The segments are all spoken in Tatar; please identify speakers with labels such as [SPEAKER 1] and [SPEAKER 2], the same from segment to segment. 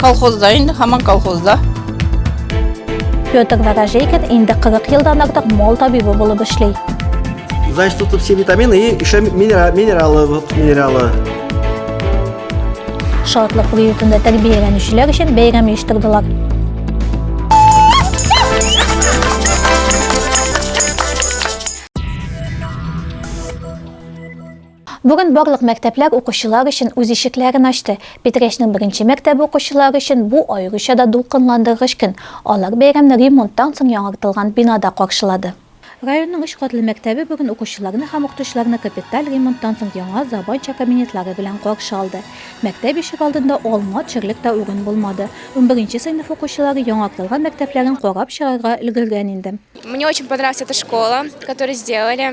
[SPEAKER 1] Колхозда инде, хаман колхозда. Петр Ворожейкин инде 40 елдан артык мол табибы булып эшли. Значит, тут все витамины и еще минералы, минералы, вот минералы. Шатлык приютында тәрбияләнүчеләр өчен бәйрәм оештырдылар. Бүген барлык мәктәпләр укучылар өчен үз ишекләрен ачты. Питрәчнең беренче мәктәбе укучылары өчен бу аеруча да дулкынландыргыч көн. Алар бәйрәмне ремонттан соң яңартылган бинада каршылады. Районның өч катлы мәктәбе бүген укучыларны һәм укытучыларны капиталь ремонттан соң яңа, заманча кабинетлары белән каршы алды. Мәктәп ишек алдында алма төшерлек тә урын булмады. Унберенче сыйныф укучылары яңартылган мәктәпләрен карап чыгарга өлгергән инде. Мне очень понравилась эта школа, которую сделали.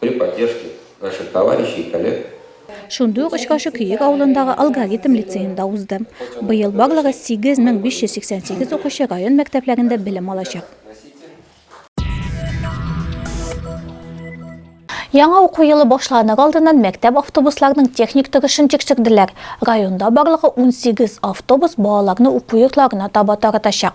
[SPEAKER 1] При поддержке наших товарищей и коллег. Шундый ук очрашу Көек авылындагы Алгоритм лицеенда узды. Быел барлыгы 8588 укучы район мәктәпләрендә белем алачак. Яңа уку елы башланыр алдыннан мәктәп автобусларының техник торышын тикшерделәр. Районда барлыгы 18 автобус балаларны уку йортларына таба таратачак.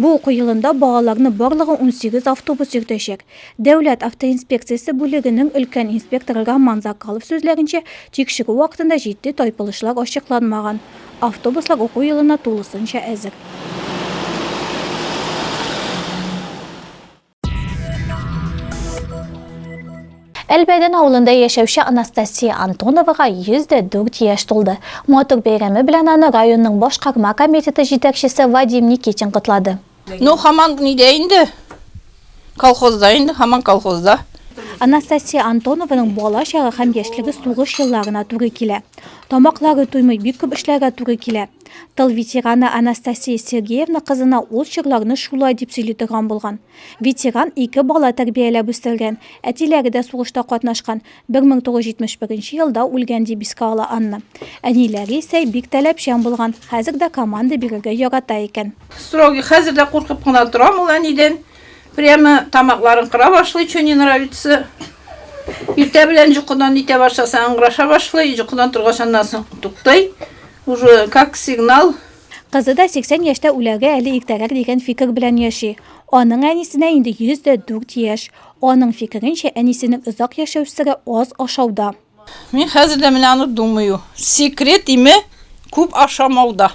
[SPEAKER 1] Бу уку елында балаларны барлыгы унсигез автобус йөртәчәк. Дәүләт автоинспекциясе бүлегенең өлкән инспекторы Роман Закалов сүзләренчә, тикшерү вакытында җитди тайпылышлар ачыкланмаган. Автобуслар уку елына тулысынча әзер. Әлбәдән авылында яшәүче Анастасия Антоновага 104 яшь тулды. Матур бәйрәме белән аны районның башкарма комитеты җитәкчесе Вадим Никитин котлады. Ну, хаман нидә инде? Колхозда инде, хаман колхозда. Анастасия Антонованың бала чагы һәм яшьлеге сугыш елларына туры килә. Тамаклары туймый, бик күп эшләргә туры килә. Тыл ветераны Анастасия Сергеевна кызына ул чорларны шулай дип сөйли торган булган. Ветеран ике бала тәрбияләп үстергән, әтиләре дә сугышта катнашкан, 1971 елда үлгән дип искә ала Анна. Әниләре исә бик таләпчән булган, хәзер дә команда бирергә ярата икән. Строгий, хәзер дә куркып кына торам ул әнидән. Прямо тамакларын кыра башлый, чё не нравится. Иртә белән җокыдан итә башласа, ыңгыраша башлый, җокыдан торгач, аннан соң туктый. Уже как сигнал. Кызы да 80 яшьтә үләгә әле иртәрәк дигән фикер белән яши. Аның әнисенә инде 104 яшь. Аның фикеренчә, әнисенең озак яшәү сере, аз ашауда. Мин хәзер дә менә аны думаю. Секрет име күп ашамауда.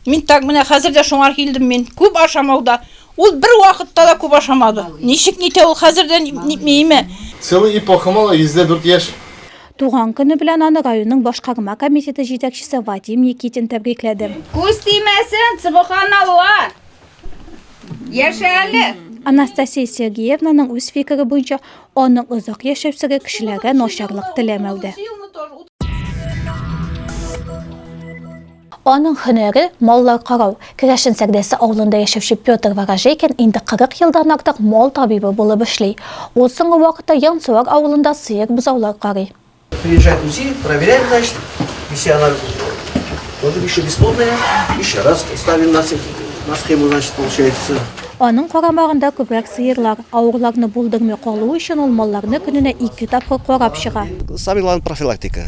[SPEAKER 1] Мин так менә хәзер дә шуңар килдем мин. Күп ашамауда. Ул бер вакытта да күп ашамады. Ничек нитә ул хәзер дә нитми име? Целый эпоха мала 104 яшь. Туган көне белән аны районның башкарма комитеты җитәкчесе Вадим Никитин тәбрикләде. Күз тимәсен, субханалла! Яшә әле! Анастасия Сергеевнаның үз фикере буенча, аның озак яшәү сире кешеләргә начарлык теләмәүдә. Аның һөнәре, маллар карау. Керәшен Сәрдәсе авылында яшәүче Петр Ворожейкин инде 40 елдан артык мал табибы булып эшли. Ул соңгы вакытта Янсуар авылында сыер-бозаулар карый. Приезжает УЗИ, проверяет, значит, если она тоже еще бесплодная, еще раз ставим на схему, значит, получается. Аның карамагында күбрәк сыерлар. Авырларны булдырмый калу өчен ул малларны көненә ике тапкыр карап чыга. Самый главный профилактика.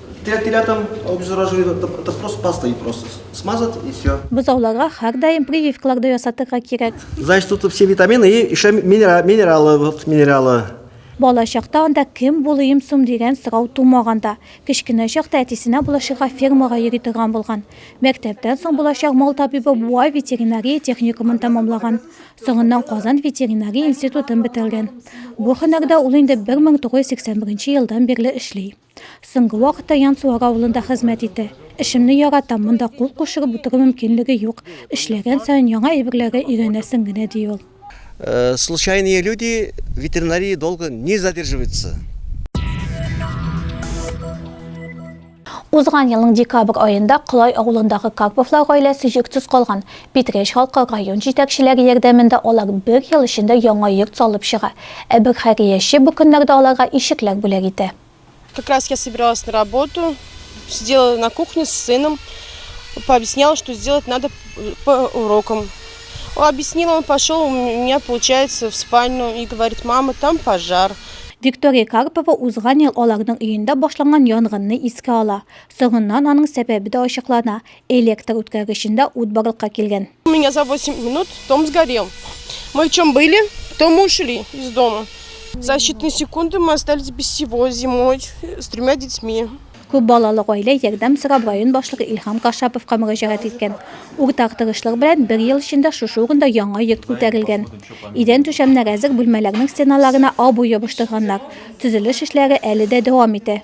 [SPEAKER 1] Теләп телятам, обеззараживать итеп, это просто пастой просто смазать и все. Бозауларга һәрдаим прививкалар да ясатырга кирәк. Значит, тут все витамины и еще минералы, вот минералы. Бала чакта анда кем булыйм сум дигән сорау тумаганда, кечкенә чакта әтисенә булашырга фермага йөри торган булган. Мәктәптән соң булачак мал табибы Буа ветеринария техникумын тәмамлаган. Соңыннан Казан ветеринария институтын бетергән. Бу һөнәрдә ул инде 1981 елдан бирле эшли. Соңгы вакытта Янсуар авылында хезмәт итә. Эшемне яратам, монда кул кушырып утыру мөмкинлеге юк. Эшләгән саен яңа әйберләргә өйрәнәсең генә, ди ул. Случайные люди в ветеринарии долго не задерживаются. Узган елның декабрь аенда Колай авылындагы Карповлар гаиләсе йортсыз калган. Питрәч халкы район җитәкчеләре ярдәмендә алар бер ел эчендә яңа йорт салып чыга, ә бер хәйрияче бу көннәрдә аларга ишекләр бүләк итә. Как раз я собиралась на работу, сидела на кухне с сыном, пообъясняла, что сделать надо по урокам. Он объяснил, он пошел, у меня получается в спальню и говорит, мама, там пожар. Виктория Карпова узган ел аларның өендә башланган янгынны искә ала. Соңыннан аның сәбәбе дә ачыклана, Электр үткәргечендә ут барлыкка килгән. У меня за 8 минут дом сгорел. Мы в чем были, то мы ушли из дома. За считанные секунды мы остались без всего зимой с тремя детьми. Күп балалы гаилә ярдәм сорап район башлыгы Илһам Кашаповка мөрәҗәгать иткән. Уртак тырышлык белән бер ел эчендә шушы урында яңа йорт күтәрелгән. Идән түшәмнәр әзер, бүлмәләрнең стеналарына абу ябыштырганнар. Төзелеш эшләре әле дә дәвам итә.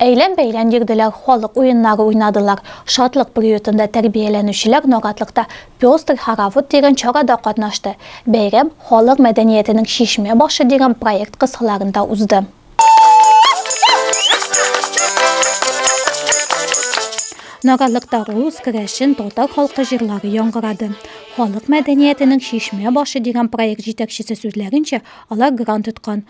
[SPEAKER 1] Әйлән-бәйлән йөрделәр, халык уеннары уйнадылар. Шатлык приютында тәрбияләнүчеләр Наратлыкта пестр хоровод дигән чарада катнашты. Бәйрәм Халык мәдәниятенең чишмә башы дигән проект кысаларында узды. Наратлыкта рус, керәшен, татар халкы җырлары яңгырады. Халык мәдәниятенең чишмә башы дигән проект җитәкчесе сүзләренчә, алар грант тоткан.